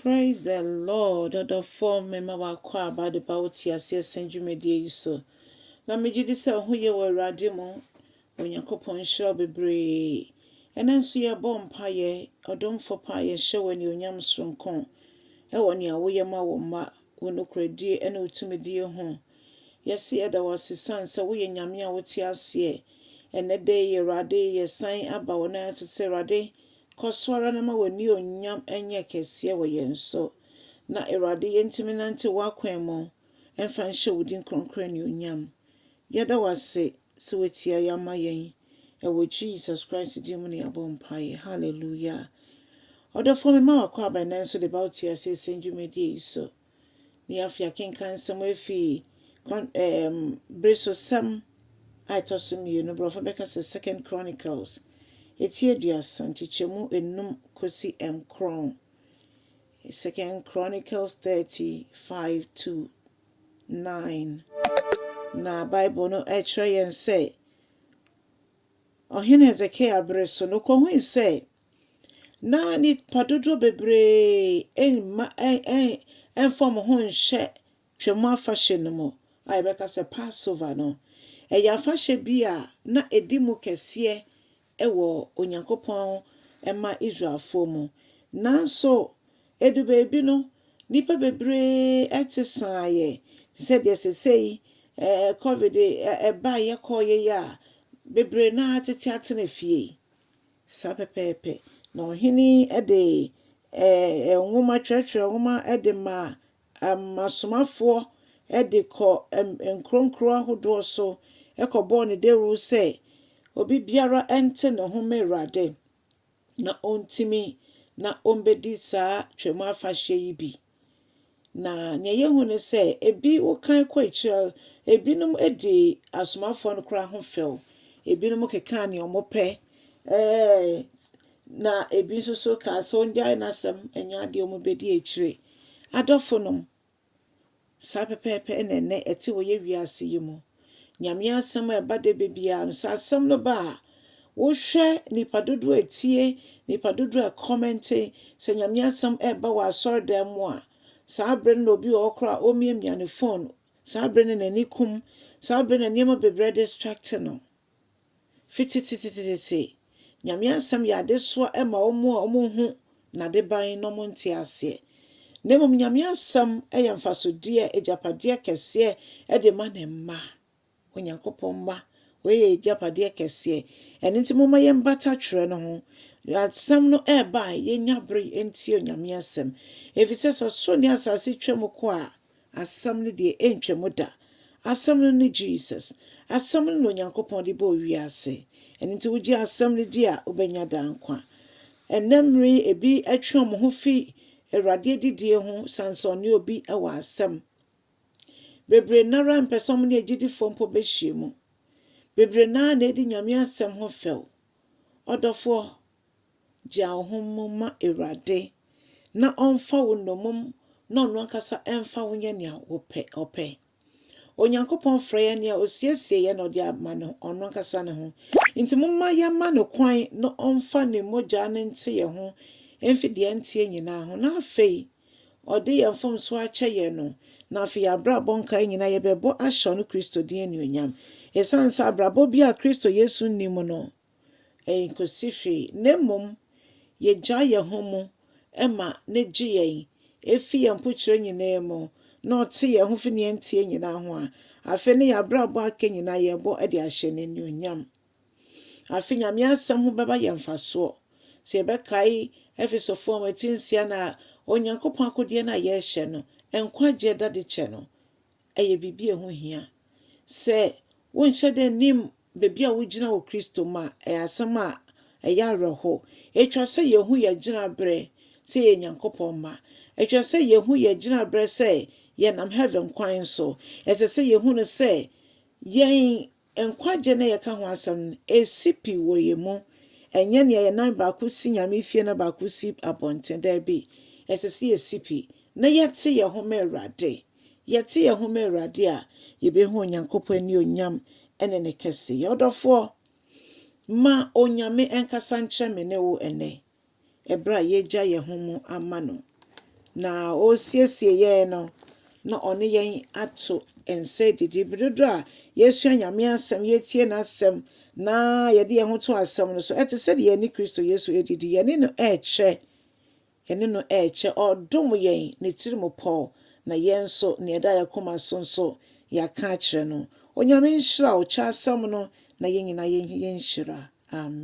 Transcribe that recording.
Praise the Lord ɔdɔfoɔ mema w'akwaaba de ba wo teaseɛ sɛn dwumadie yi so na megye di sɛ ho ye wɔ Awurade mu Onyankopɔn nhyira wo bebree ɛnɛ nso yɛbɔ mpaeɛ ɔdomfo pa yɛhyɛ wo anuonyam soronko ɛwɔ nea woyɛ ma wo mma wo nokorɛdie ɛne wo tumidie ho yɛse yɛda wo ase sane sɛ woyɛ Nyame a wote aseɛ ɛnɛ da yi Awurade yɛsan aba wo nan ase sɛ Awurade Kɔ so ara na ma w'anuonyam nyɛ kɛseɛ wɔ yɛn so, na Awurade yɛntumi nnante w'akwan mu mfa nhyɛ wo din kronkron anuonyam. Yɛda wo ase sɛ woatie yɛn ama yɛn. Ɛwɔ Jesus Christ din mu na yɛabɔ mpaeɛ. Hallelujah. Ɔdɔfoɔ mema w'akwaaba nnɛ nso de ba wo teaseɛsɛm dwumadie yi so. Ne afei akenkan nsɛm afi Kron ɛɛm Beresosɛm a ɛtɔ so mmienu, Borɔfo bɛka sɛ Second Chronicles, eti aduasa, nkyekyɛmu enum kosi nkron, Second Chronicles thirty five to nine. Na Bible no kyerɛ yɛn sɛ, Ɔhene Hesekia bere so no, okohui sɛ na nnipa dodoɔ bebree mma ɛmfa wɔn ho nhyɛ Twam afahyɛ no mu a yɛbɛka sɛ Passover no. Ɛyɛ afahyɛ bi a na ɛdi mu kɛseɛ wɔ Onyankopɔn mma Israelfoɔ mu. Nanso, ɛdu baabi no, nnipa bebree te saeɛ te sɛ deɛ sesei covid baeɛ kɔeɛ yi a, bebree no ara tete atena fie. Saa pɛpɛɛpɛ. Na ɔhene yi de ɛɛ nwoma, twerɛtwerɛ nwoma de ma asomafoɔ de kɔ nkuro nkuro ahodoɔ so kɔbɔɔ no dawuro sɛ, Obibiara nte ne ho mma Awurade, na ɔntumi na ɔmmɛdi saa Twam Afahyɛ yi bi. Na nea yehu ne sɛ, ebi wokan kɔ akyiri a, ebinom di asomafoɔ no koraa ho fɛw. Ebinom kekaa nea wɔpɛ. Ɛɛ, na ebi nso so kaa sɛ ɔngyae n'asɛm, ɛnyɛ adeɛ wɔbɛdi akyire. Adɔfonom, saa pɛpɛɛpɛ na ɛnɛ ɛte wɔ yɛn wiase yi mu. Nyame asɛm a ɛba da bɛ biara no, sɛ asɛm no ba a, wohwɛ nipa dodoɔ a ɛtie, nipa dodoɔ a ɛkɔmɛnte, sɛ Nyame asɛm ɛreba wɔ asɔre dan mu a, saa berɛ no na obi wɔ hɔ koraa a ɔmmiamia ne phone, saa berɛ no na n'ani kum, saa berɛ na nneɛma bebree distracte no. Fi tsetsetsetsetee, Nyame Asɛm yɛ adesoa ma wɔn a wɔnhu N'adeban na wɔnte aseɛ. Na mmom Nyame Asɛm yɛ mfasodeɛ, agyapadeɛ kɛseɛ de ma Ne mma, Onyankopɔn mma. Wei yɛ y'agyapadeɛ kɛseɛ. Ɛno nti momma yɛmbata twerɛ no ho. Asɛm no reba a, yɛnya bere ntie Onyame Asɛm. Ɛfiri sɛ, sɛ ɔsoro ne asaase twa mu kɔ a, Asɛm no deɛ ɛntwam da. Asɛm no ne Jesus. Asɛm no na Onyankopɔn de bɔɔ wiase. Ɛno nti wogye Asɛm no di a, wobɛnya daa nkwa. Ɛnnɛ mmere yi, ebi atwe wɔn ho fi Awurade adidie ho sane sɛ ɔne obi wɔ asɛm. Bebree no ara mpɛ sɛ wɔne agyidifoɔ mpo bɛhyiam. Bebree no ara na ɛdi Nyame asɛm ho fɛw. Ɔdɔfoɔ, Gyaa wo ho mu ma Awurade, na ɔmfa wo nnommum na ɔno ankasa mfa wo nyɛ nea ɔpɛ. Onyankopɔn frɛ yɛn nea osiesie yɛn na ɔde ama no ɔno ankasa ne ho. Enti momma yɛmma no kwan na ɔmfa ne mogya no nte yɛn ho mfi deɛ ɛnteɛ nyinaa ho, na afei ɔde yɛn mfomsoɔ akyɛ yɛn no, na afei yɛn abrabɔ nkaeɛ nyinaa yɛbɛbɔ ahyɛ ɔno Kristo din anuonyam. Esiane sɛ abrabɔ bi a Kristo Yesu nni mu no enkosi hwee, na mmom yegyaa yɛn ho mu ma no gye yɛn fi yɛn mpokyerɛ nyinaa mu, na ɔte yɛn ho fi nea ɛnteɛ nyinaa ho a, afei ne yɛn abrabɔ aka nyinaa yɛbɔ de ahyɛ no anuonyam. Afei Nyame asɛm ho bɛba yɛn mfasoɔ. Sɛ yɛbɛkae Efesofo nwoma ti nsia no a, Onyankopɔn akodeɛ no a yɛhyɛ no, nkwagyeɛ dadekyɛ no, ɛyɛ biribi a ɛho hia. Sɛ wonhyɛ da nnim baabi a wugyina wɔ Kristo mu a, ɛyɛ asɛm a ɛyɛ awerɛhow. Etwa sɛ yehu yɛn gyinabrɛ sɛ yɛyɛ Nyankopɔn mma. Etwa sɛ yehu yɛn gyinabrɛ sɛ yɛnam heaven kwan so. Ɛsɛ sɛ yehu no sɛ yɛn Nkwagye na yɛka ho asɛm no, esi pi wɔ yɛn mu. Ɛnyɛ nea yɛn nan baako si Nyame fie na baako si abɔnten. Dabi, ɛsɛ sɛ yɛsi pi na yɛte yɛn ho ma Awurade. Yɛte yɛn ho ma Awurade a, yɛbɛhu Onyankopɔn anuonyam ne ne kɛseyɛ. Ɔdɔfoɔ, ma Onyame nkasa nkyerɛ me ne wo ɛnnɛ. ɛberɛ a yɛagya yɛn ho mu ama No, na Ɔresiesie yɛn no, na Ɔne yɛn ato nsa adidi. Berɛ dodoɔ a yɛsua Nyame Asɛm, yɛtie N'Asɛm, na yɛde yɛn ho to Asɛm no so, ɛte sɛ deɛ yɛne Kristo Yesu redidi, yɛne No rekyɛ, yɛne No rekyɛ, Ɔredom yɛn, Ne tirimupɔ, na yɛn nso, nea ɛda yɛn koma so nso, yɛaka akyerɛ No. Onyame nhyira wo, kyɛ Asɛm no, na yɛn nyinaa yɛnhyira. Amen.